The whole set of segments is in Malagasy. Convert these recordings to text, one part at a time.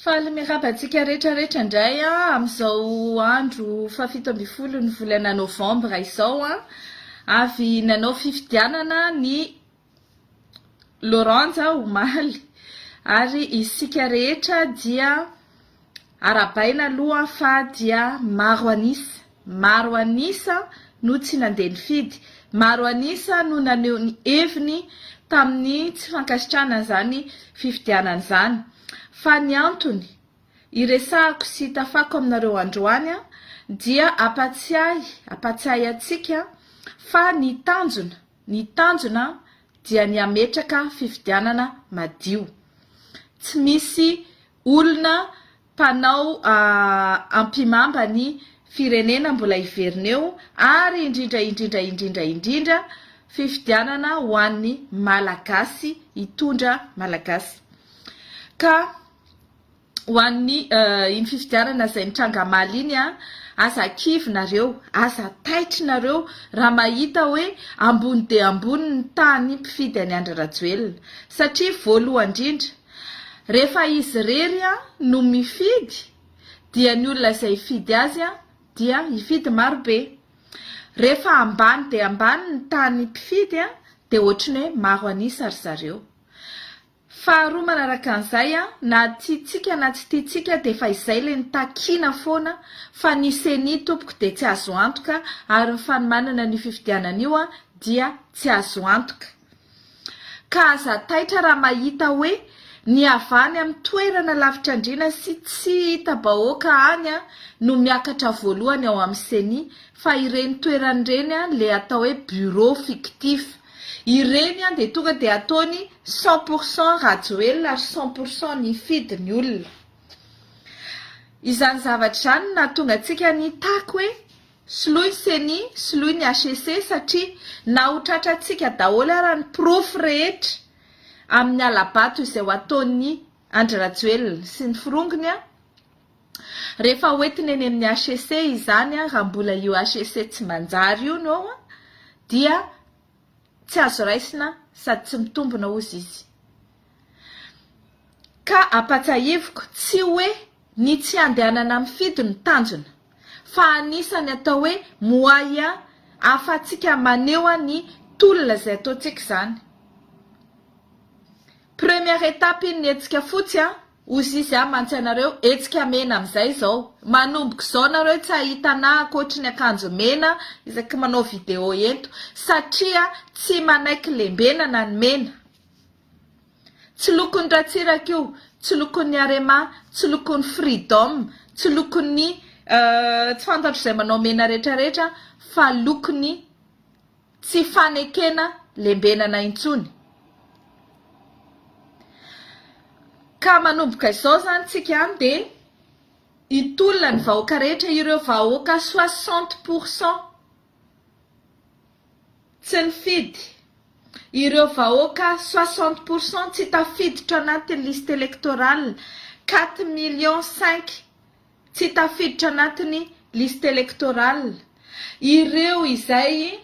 Faly miraba antsika rehetra rehetra indray amin'izao andro fahafito ambin'ny folo ny volana novambra izao an! Avy nanao fifidianana ny Lauranja omaly ary isika rehetra dia Arahabaina aloha fa dia maro an'isa, maro an'isa no tsy nandeha nifidy, maro an'isa no naneho ny heviny tamin'ny tsy fankasitrahana an'izany fifidianana izany. Fa ny antony iresahako sy itafako aminareo androany dia ampatsiahy, ampatsiahy antsika fa ny tanjona, ny tanjona dia ny hametraka fifidianana madio. Tsy misy olona mpanao ampihimamba ny firenena mbola hiverina eo ary indrindra indrindra indrindra indrindra fifidianana ho an'ny Malagasy hitondra Malagasy ka ho an'ny iny fifidianana izay mitranga Maly iny an aza kivy nareo aza taitry nareo raha mahita hoe ambony dia ambony ny tahan'ny mpifidy an'i Andry Rajoelina satria voalohan-drindra Rehefa izy irery no mifidy dia ny olona izay hifidy azy dia hifidy marobe. Rehefa ambany dia ambany ny tany mpifidy dia ohatran'ny hoe maro an'isa ry zareo. Faharoa manaraka an'izay, na tiantsika na tsy tiantsika dia efa izay ilay ny takiana foana fa ny ceni tompoko dia tsy azo antoka ary ny fanomanana an'io fifidianana io dia tsy azo antoka. Ka aza taitra raha mahita hoe ny avy any amin'ny toerana lavitr'andriana sy tsy hita bahoaka any no miakatra voalohany ao amin'ny ceni fa ireny toerany ireny le atao hoe bureau fictif ireny dia tonga dia ataony cent pour cent rajoelina ary cent pour cent nifidy ny olona izany zavatra izany no nahatonga antsika nitaky hoe Soloy ny ceni, soloy ny HEC satria na ho tratrantsika daholo ara ny porofo rehetra amin'ny hala-bato izay ho ataon'i Andry Rajoelina sy ny forongony a! rehefa ho entiny eny amin'ny HEC izany a! raha mbola io HEC tsy manjary io no ao a! dia tsy azo raisina sady tsy mitombona hozy izy. Ka ampatsahiviko tsy hoe Ny tsy handehanana mifidy no tanjona, fa anisan'ny atao hoe moyen ahafahantsika maneho ny tolona izay ataontsika izany. Première étape iny ny hetsika fotsy a! hozy izy a! mantsy anareo hetsika mena amin'izay izao, manomboka izao nareo tsy hahita anah ankoatry ny akanjo mena isaky manao vidéo ento, satria tsy manaiky lembenana ny mena. Tsy lokon'ny Ratsiraka io, tsy lokon'ny Arema, tsy lokon'ny Freedom, tsy lokon'ny tsy fantatro izay manao mena rehetra rehetra fa lokon'ny tsy fanekena lembenana intsony. Ka manomboka izao izany tsika any dia hitolona ny vahoaka rehetra ireo vahoaka soixante pour cent. Tsy nifidy. Ireo vahoaka soixante pour cent tsy tafiditra anaty liste électorale, quatre millions cinq tsy tafiditra anatin'ny liste électorale. Ireo izay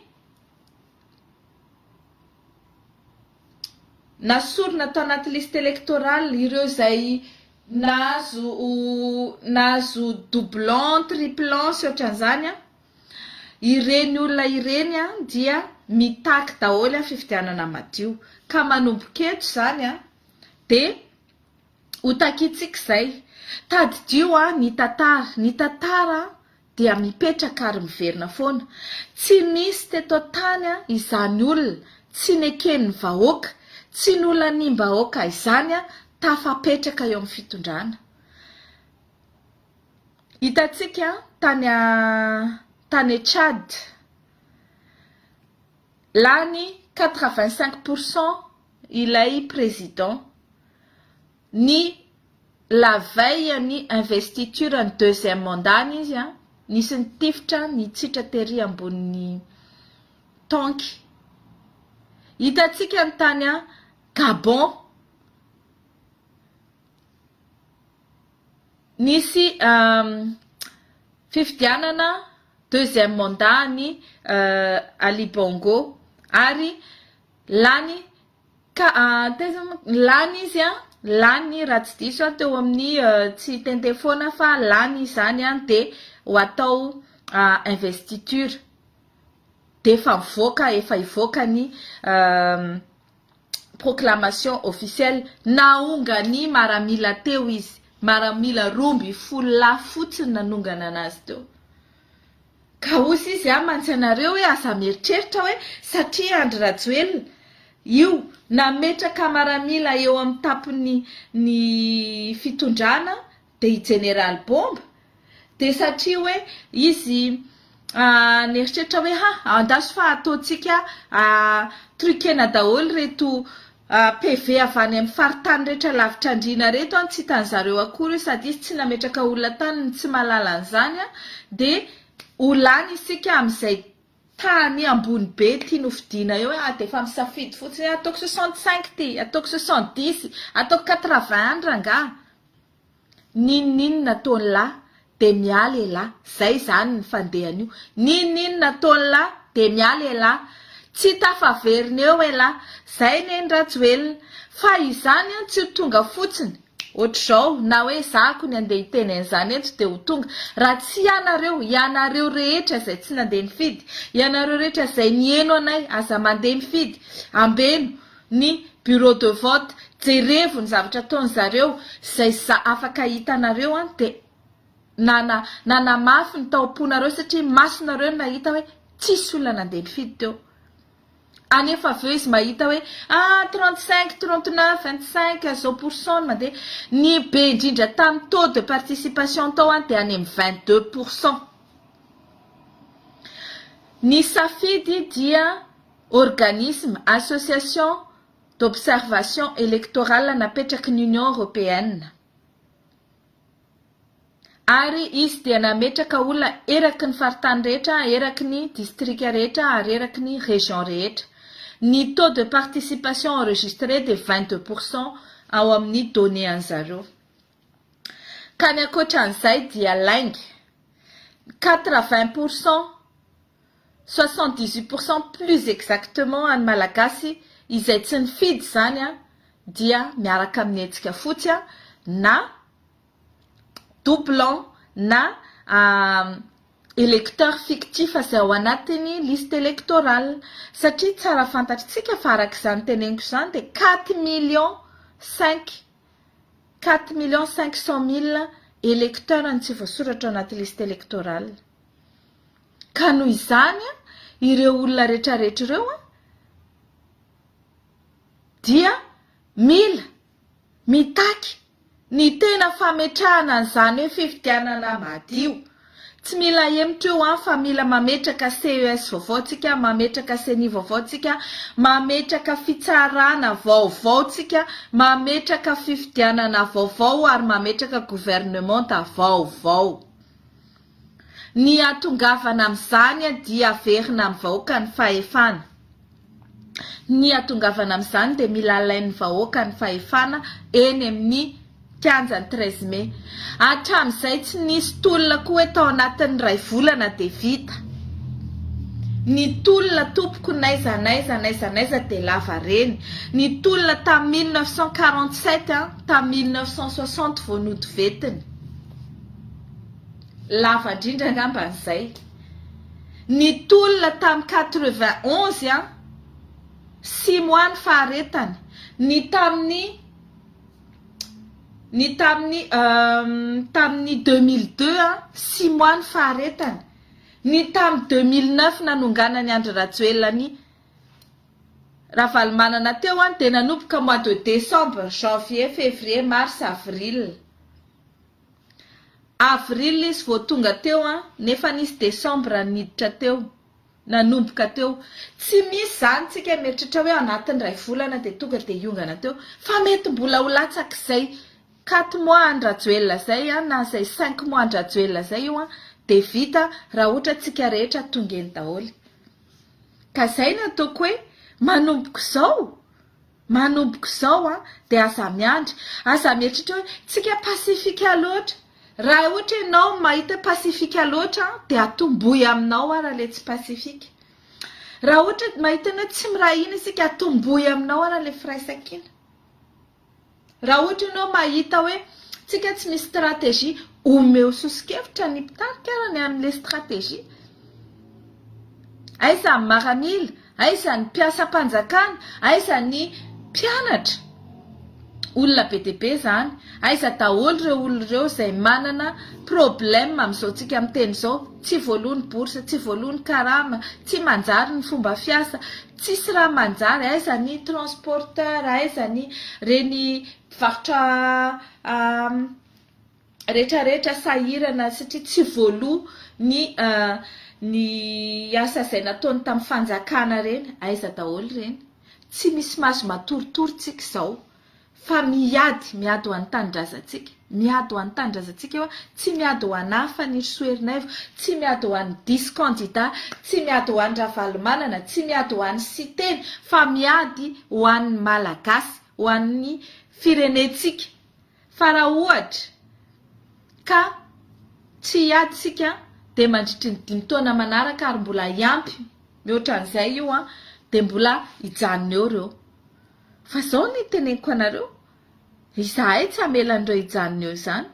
nasorina tao anaty liste électorale, ireo izay nahazo nahazo doublons, triplons sy ohatran'izany an! Ireny olona ireny dia mitaky daholo fifidianana madio, ka manomboka eto izany dia ho takiantsika izay. Tadidio ny tantara, ny tantara dia mipetraka ary miverina foana. Tsy nisy teto an-tany izany olona tsy neken'ny vahoaka, tsy nolaniam-bahoaka izany tafapetraka eo amin'ny fitondrana. Hitantsika tany tany Tchad, lany quatre vingt cinq pour cent ilay président ny la veille an'ny investiture ny deuxième mandat ny izy nisy nitifitra nitsitra tery ambonin'ny tanky. Hitantsika ny tany Gabon. Nisy fifidianana deuxième mandat an'i Ali Bongo ary lany ka taiza moa lany izy a lany raha tsy diso aho teo amin'ny tsy tente foana fa lany izany a de ho atao investiture d'efa mivoaka efa hivoaka ny proclamation officielle naonga ny maramila teo izy maramila roa ambin'ny folo lahy fotsiny nanongana anazy teo ka hozy izy a mantsy anareo hoe aza mieritreritra hoe satria Andry Rajoelina io nametraka maramila eo amin'ny tapiny ny fitondrana Dia i Jeneraly Bomba dia satria hoe izy nieritreritra hoe ha andaso fa ataontsika truquena daholo ireto PV avy any amin'ny faritany rehetra lavitra andriana ireto an, tsy hitan'i zareo akory io sady izy tsy nametraka olona tany no tsy mahalala an'izany an, dia ho lany isika amin'izay tany ambony be ity nofidiana eo hoe dia efa misafidy fotsiny hoe ataoko soixante cinq ity, ataoko soixante dix, ataoko quatre vingt any rangaha. N'inon'inona ataony la de miala elah zay zany ny fandehany io n'inon'inona ataony la de miala elah tsy tafaverina eo elah zay neny Rajoelina fa izany an tsy ho tonga fotsiny otrzao na hoe za akony andeha hiteny an'izany eto de ho tonga raha tsy ianareo ianareo rehetra zay tsy nandeha nifidy ianareo rehetra zay niheno anay aza mandeha mifidy ambeno ny bureau de vote jerevo ny zavatra ataony zareo zay za afaka hitanareo an de nana nanamafy ny taomponareo satria masonareo nahita hoe tsisy olona nandeha nifidy teo anefa avy eo izy mahita hoe ah trente cinq trente neuf vingt cinq zao pourcent no mandeha ny be indrindra tamin'ny taux de participation tao an de any amin'ny vingt deux pourcent ny safidy dia organisme, association d'observation électorale napetraky ny Union Européenne, ary izy dia nametraka olona eraky ny faritany rehetra, eraky ny distrika rehetra ary eraky ny région rehetra. Ny taux de participation enregistré dia vingt deux pour cent ao amin'ny données an'zareo. Ka ny ankoatran'izay dia lainga, quatre vingt pour cent. soixante dix huit pour cent plus exactement an'ny Malagasy izay tsy nifidy izany dia miaraka amin'ny hetsika fotsy a na doublant na électeur fictif izay ao anatin'ny liste électorale satria tsara fantatritsika fa araka izany teneniko izany dia quatre millions cinq quatre millions cinq cent mille électeurs no tsy voasoratra ao anaty liste électorale. Ka noho izany, ireo olona retraretra ireo dia mila mitaky ny tena fametrahana an'izany hoe fifidianana madio. Tsy mila ahemotra eo an, fa mila mametraka CES vaovao tsika, mametraka ceni vaovao tsika, mametraka fitsarana vaovao tsika, mametraka fifidianana vaovao ary mametraka governemanta vaovao. Ny ihatongavana amin'izany dia averina amin'ny vahoaka ny fahefana. Ny ihatongavana amin'izany dia mila alain'ny vahoaka ny fahefana eny amin'ny kianjan'ny treize mai. Hatramin'izay tsy nisy tolona koa hoe tao anatin'ny iray volana dia vita. Ny tolona tompoko n'aiza n'aiza n'aiza n'aiza dia lava reny. Ny tolona tamin'ny mille neuf cent quarante sept an, tamin'ny mille neuf cent soixante vao nodovetina. lava indrindra angamba izay ny tolona tamin'ny quatre vingt onze an simo any faharetany ny tamin'ny ny tamin'ny tamin'ny deux mille deux an simo any faharetany ny tamin'ny deux mille neuf nanonganany Andry Rajoelina ny Ravalomanana teo an dia nanomboka mois de décembre janvier février mars avril Avril izy vao tonga teo an, nefa nisy décembre niditra teo, nanomboka teo, tsy misy zany tsika mieritreritra hoe anatin'ny iray volana dia tonga dia hiongana teo fa mety mbola ho latsak'izay quatre mois an-dRajoelina zay an na izay cinq mois an-dRajoelina zay io an dia vita raha ohatra tsika rehetra tonga eny daholo ka zay no ataoko hoe manomboka izao Manomboka izao an, dia aza miandry, aza mieritreritra hoe tsika pacifique loatra, raha ohatra ianao no mahita hoe pacifique loatra an, dia atombohy aminao ara ilay tsy pacifique, raha ohatra mahita ny hoe tsy miray hina isika atombohy aminao ara ilay firaisankina. Raha ohatra ianao mahita hoe tsika tsy misy stratégie, omeo soso-kevitra ny mpitarika ara ny amin'ilay stratégie. Aiza ny maramila, aiza ny mpiasam-panjakana, aiza ny mpianatra. Olona be dia be izany. Aiza daholo ireo olona ireo izay manana problème amin'izao tsika miteny izao, tsy voaloa ny bourse, tsy voaloa ny karama, tsy manjary ny fomba fiasa, Tsisy raha manjary, aiza ny transporteur, aiza ny reny mpivarotra retraretra sahirana satria tsy voaloa ny ny asa izay nataony tamin'ny fanjakana reny, aiza daholo reny, tsy misy maso matoritory tsika izao Fa miady, miady ho an'ny tanindrazantsika, miady ho an'ny tanindrazantsika io an, tsy miady ho an'i Hafa ny Rsy Ernaivo, tsy miady ho an'ny diso kandida, tsy miady ho an'i Ravalomanana, tsy miady ho an'i Siteny, fa miady ho an'ny Malagasy, ho an'ny firenentsika. Fa raha ohatra ka tsy hiady isika dia mandritry ny dimy taona manaraka ary mbola hiampy mihoatra an'izay io an, dia mbola hijanona eo ireo. Fa izao ny teneniko anareo, izahay tsy hamela an'ireo hijanona eo izany.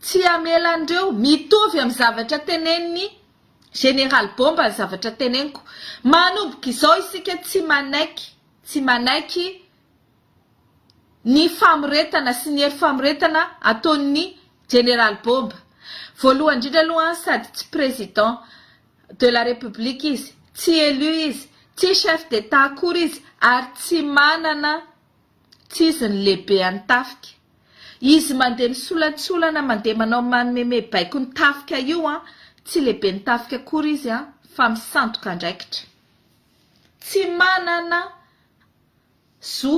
Tsy hamela an'ireo, mitovy amin'ny zavatra tenenin'i Général Bomba ny zavatra teneniko. Manomboka izao isika tsy manaiky, tsy manaiky ny famoretana sy ny hery famoretana ataon'ny Général Bomba. Voalohany indrindra aloha sady tsy Président, de la République izy, tsy élu izy, tsy chef d'Etat akory izy ary tsy manana tsy izy ny lehibe an'ny tafika. Izy mandeha misolantsolana mandeha manao manomeme baiko ny tafika io an, tsy lehiben'ny tafika akory izy an, fa misandoka andraikitra. Tsy manana zo.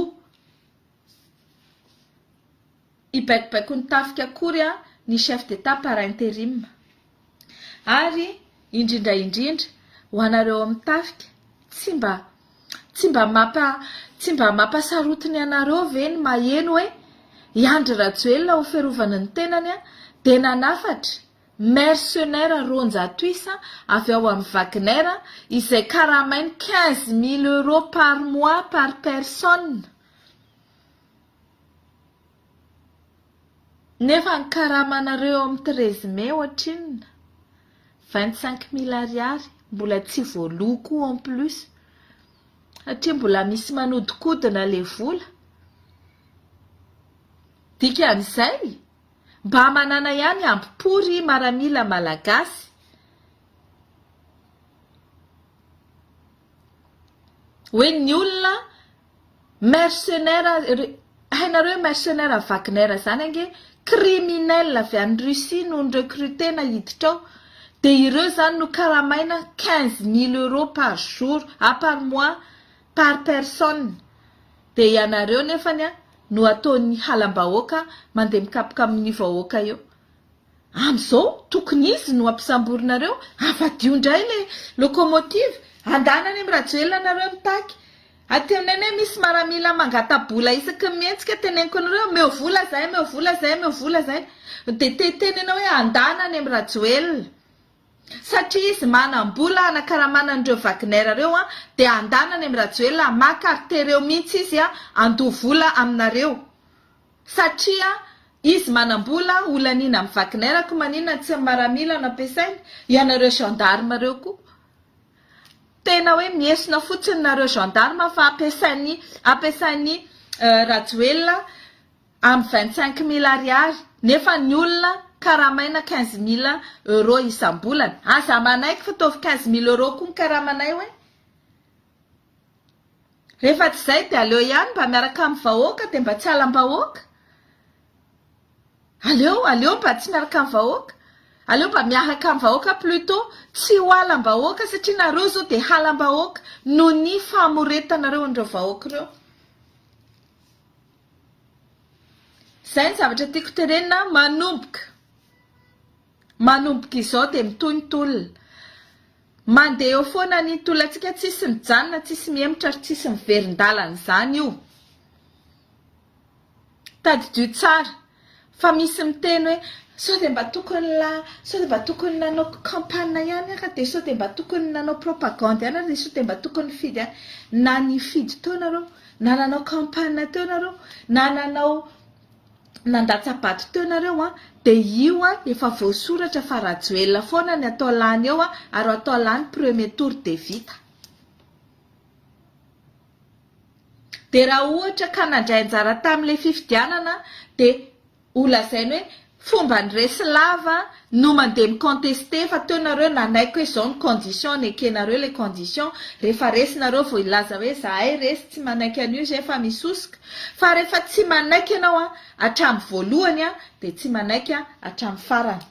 hibaikobaikon'ny tafika akory ny chef d'Etat par interim. Ary indrindra indrindra ho anareo amin'ny tafika tsy mba tsy mba mampa tsy mba mampasarotiny anareo ve ny maheno hoe i Andry Rajoelina ho fiarovana ny tenany dia nanafatra mercenaires roanjato isa avy ao amin'ny Wagner izay karamainy quinze mille euros par mois par personne Nefa ny karamanareo eo amin'ny treize mai ohatrinona? Vingt cinq mille ariary mbola tsy voaloa koa en plus satria mbola misy manodikodina ilay vola. Dikan'izay mba manana ihany ambo-po ry maramila malagasy. Hoe ny olona. Mercenaire ry hainareo hoe mercenaire Wagner zany ange criminel avy any Russie no ni-recrutena hiditra ao dia ireo zany no karamaina quinze mille euros par jour ah par mois par personne dia ianareo nefany no ataony halam-bahoaka mandeha mikapoka amin'ny vahoaka eo. Amzao tokony izy no ampisamborinareo avadio ndray le locomotive andana any am Rajoelina nareo mitaky ateneno hoe misy maramila mangata bola isaky ny mihetsika teneniko anareo ameo vola zay ameo vola zay ameo vola zay de te tenena hoe andana any am Rajoelina satria izy manam bola anakaramana anreo Wagner reo an de andana any am Rajoelina maka ary tereo mihitsy izy an andoa vola aminareo Satria izy manambola ho laniana amin'i Wagner ko maninona tsy ny maramila no ampiasainy? Ianareo gendarme reo ko tena hoe miesona fotsiny nareo gendarme fa ampiasainy ampiasainy Rajoelina amin'ny vingt cinq mille ariary nefa ny olona karamaina quinze mille euros isam-bolana. Aza manaiky fa ataovy quinze mille euros koa ny karamanay hoe. Rehefa tsy izay dia aleo ihany mba miaraka amin'ny vahoaka dia mba tsy halam-bahoaka. Aleo aleo mba tsy miaraka amin'ny vahoaka. Aleo mba miaraka amin'ny vahoaka plutot. Tsy ho halam-bahoaka satria nareo izao dia halam-bahoaka noho ny famoretanareo an'ireo vahoaka ireo. Izay ny zavatra tiako tenenina manomboka. Manomboka izao dia mitohy ny tolona. Mandeha eo foana ny tolantsika tsisy mijanona, tsisy mihemotra ary tsisy miverin-dalana izany io. Tadidio tsara fa misy miteny hoe sao dia mba tokony la, sao dia mba tokony nanao campagne ihany ary dia sao dia mba tokony nanao propagande ihany ary dia sao dia mba tokony nifidy ihany. Na nifidy teo nareo, na nanao campagne teo nareo, na nanao. nandatsa-bato teo nareo an, de io an efa voasoratra fa Rajoelina foana ny atao lany eo an, ary atao lany premier tour de vita. De raha ohatra ka nandray anjara tamle fifidianana de ho lazainy hoe fomba niresy lava no mandeha mi-contester fa teo nareo nanaiky hoe zao ny condition nekenareo le condition rehefa resy nareo vao hilaza hoe zahay resy tsy manaiky an'io zay efa misosoka fa rehefa tsy manaiky ianao an hatramin'ny voalohany an dia tsy manaiky an hatramin'ny farany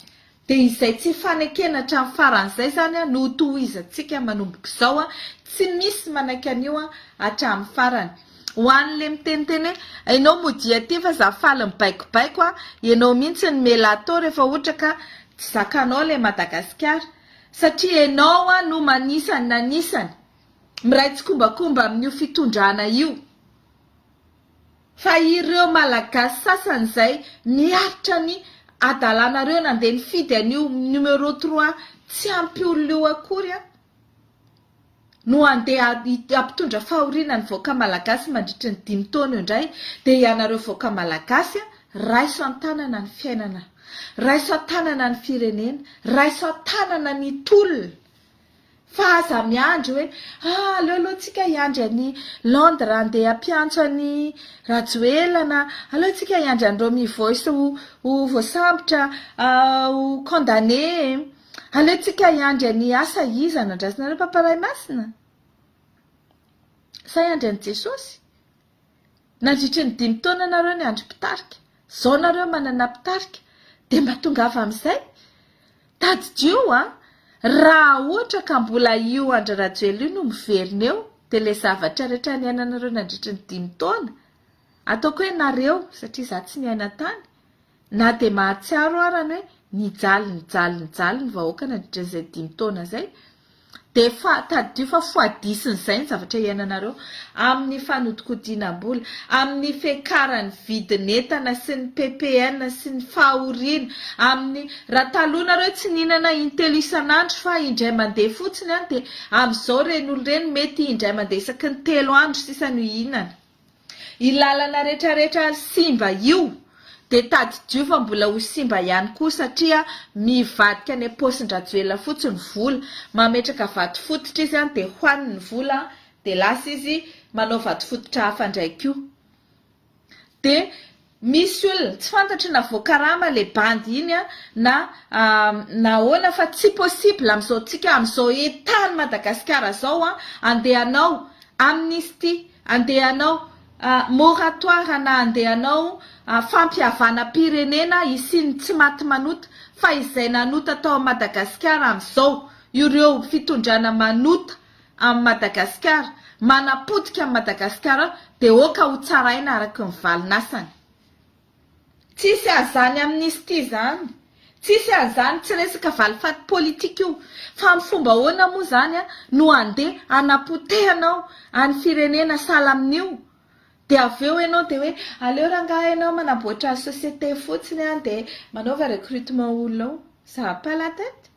dia izay tsy fanekena hatramin'ny farany zay zany an no hotohizantsika manomboka izao an tsy misy manaiky an'io an hatramin'ny farany Ho an'ny le miteniteny hoe enao modia aty fa za faly mibaikobaiko a, enao mihintsy ny melato refa ohatra ka tsy zakanao le Madagasikara satria enao a no manisany nanisany miray tsikombakomba amin'io fitondrana io fa ireo Malagasy sasany zay miaritra ny adalanareo nandeha nifidy an'io numéro trois tsy ampy olona io akory a. no handeha hampitondra fahoriana ny vahoaka malagasy mandritry ny dimy taona eo indray dia ianareo vahoaka malagasy raiso an-tanana ny fiainana, raiso an-tanana ny firenena, raiso an-tanana ny tolona fa aza miandry hoe ah aleo aloha tsika hiandry an'i Londres handeha hampiantso an'i Rajoelina na aleo tsika hiandry an'ireo mivoy sy ho voasambotra ho condamné. Aleontsika hiandry an'i Asa iza anandrasinareo Papa Ray Masina? Sa hiandry an'i Jesosy? Nandritry ny dimy taona nareo niandry mpitarika, zao nareo manana mpitarika dia mba tongava amin'izay? Tadidio an! Raha ohatra ka mbola io Andry Rajoelina io no miverina eo dia ilay zavatra rehetra niainanareo nandritry ny dimy taona, ataoko hoe nareo satria za tsy niaina tany, Na dia mahatsiaro ara ny hoe nijaly nijaly nijaly ny vahoaka nandritra izay dimy taona izay dia efa tadidio fa foadisin'izay ny zavatra iainanareo amin'ny fanodikodinam-bola, amin'ny fiakaran'ny vidin'entana sy ny ppn sy ny fahoriana, amin'ny raha taloha nareo tsy nihinana intelo isan'andro fa indray mandeha fotsiny dia amin'izao ireny olona ireny mety indray mandeha isaky ny telo andro sisa no hihinana. Io lalana retraretra simba io dia tadidio fa mbola ho simba ihany koa satria mivadika any am-paosin-dRajoelina fotsiny ny vola. Mametraka vato fototra izy an, dia hohaniny ny vola dia lasa izy manao vato fototra hafa indray koa. Dia Misy olona, tsy fantatro na voakarama le bandy iny a na na ahoana fa tsy possible amin'izao tsika amin'izao état ny Madagasikara zao a, andeha hanao amnistie, andeha hanao moratoire na andeha hanao fampihavanam-pirenena hisian'ny tsy maty manota fa izay nanota tao Madagasikara amin'izao ireo fitondrana manota am Madagascar manapotika am Madagascar de ok ho tsaraina araky ny valinasany. Tsisy azany amnistie zany tsisy anzany tsy resaka valifaty politika io fa am fomba ahoana moa zany no ande anapotehanao any firenena sahala aminio de avy eo enao de hoe aleo rangaha enao manaboatra societe fotsiny an de manaova recrutement olona ao ça a pas la tete.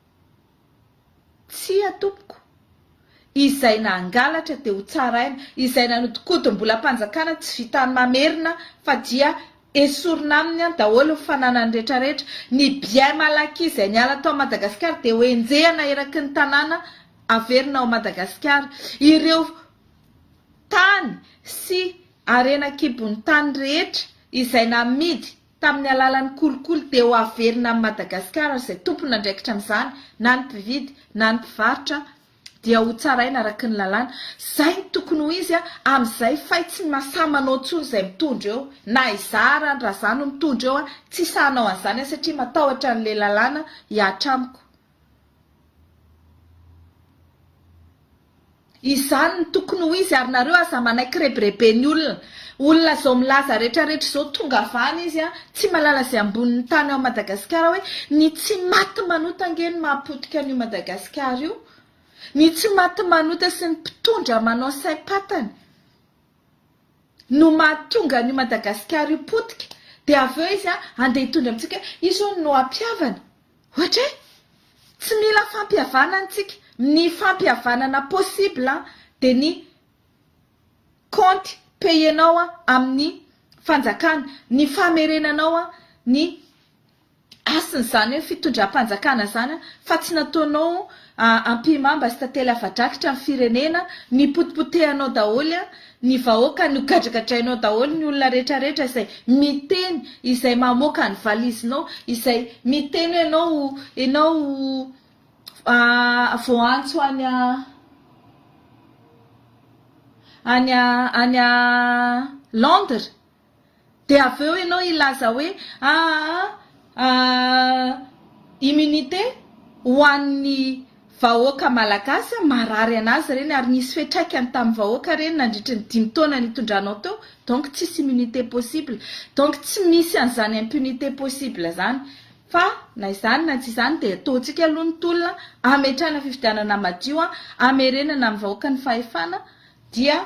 Tsia, tompoko. Izay nangalatra dia ho tsaraina, izay nanodinkodim-bolam-panjakana tsy vitan'ny mamerina fa dia esorina aminy any daholo ny fananany rehetrarehetra. Ny bien malaky izay niala tao Madagasikara dia ho enjehina eraky ny tanàna averina ao Madagasikara. Ireo tany sy harena an-kibon'ny tany rehetra izay namidy tamin'ny alalan'ny kolikoly dia ho averina amin'i Madagasikara ary izay tompon'andraikitra amin'izany na ny mpividy na ny mpivarotra dia ho tsaraina araky ny lalàna. Izay no tokony ho izy amin'izay fay tsy masaha manao intsony izay mitondra eo na izaho ary raha izaho no mitondra eo tsy saha hanao an'izany aho satria matahotra an'ilay lalàna hiahatra amiko. Izany no tokony ho izy ary nareo aza manaiky rebirebe ny olona. Olona zao milaza retraretra izao tonga avy any izy an, tsy malala izay ambonin'ny tany ao Madagasikara hoe ny tsy maty manota ange no mahapotika an'io Madagasikara io. Ny tsy maty manota sy ny mpitondra manao saim-patany. no mahatonga an'io Madagasikara io potika dia avy eo izy handeha hitondra amintsika hoe io izao no hampihavana. Ohatra hoe tsy mila fampihavana antsika, ny fampihavanana possible dia ny kaonty payenao amin'ny fanjakana, ny famerenanao ny. Hasina izany hoe fitondram-panjakana izany an, fa tsy nataonao ampihimamba sy tantely afa-drakitra ny firenena, ny potipotehanao daholo an, ny vahoaka nogadragadrainao daholo ny olona retraretra izay miteny, izay mamoaka ny valizinao, izay miteny hoe enao enao voaantso any any any Londres. Dia avy eo ianao hilaza hoe aa immunité ho an'ny vahoaka malagasy, marary an'azy ireny ary nisy fiantraikany tamin'ny vahoaka ireny nandritry ny dimy taona nitondranao teo, donc tsisy immunité possible. Donc tsy misy an'izany impunité possible izany. Fa na izany na tsy izany dia ataontsika aloha ny tolona, ametrahana fifidianana madio, amerenana amin'ny vahoaka ny fahefana dia.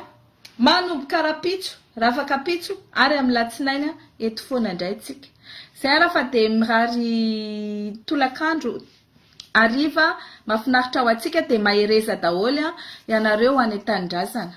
Manomboka rapitso, rafakapitso ary amin'ny latsinainy eto foana indray tsika. Zay ara fa dia mirary tolakandro hariva mafinaritra ho antsika dia mahereza daholo ianareo any an-tanindrazana.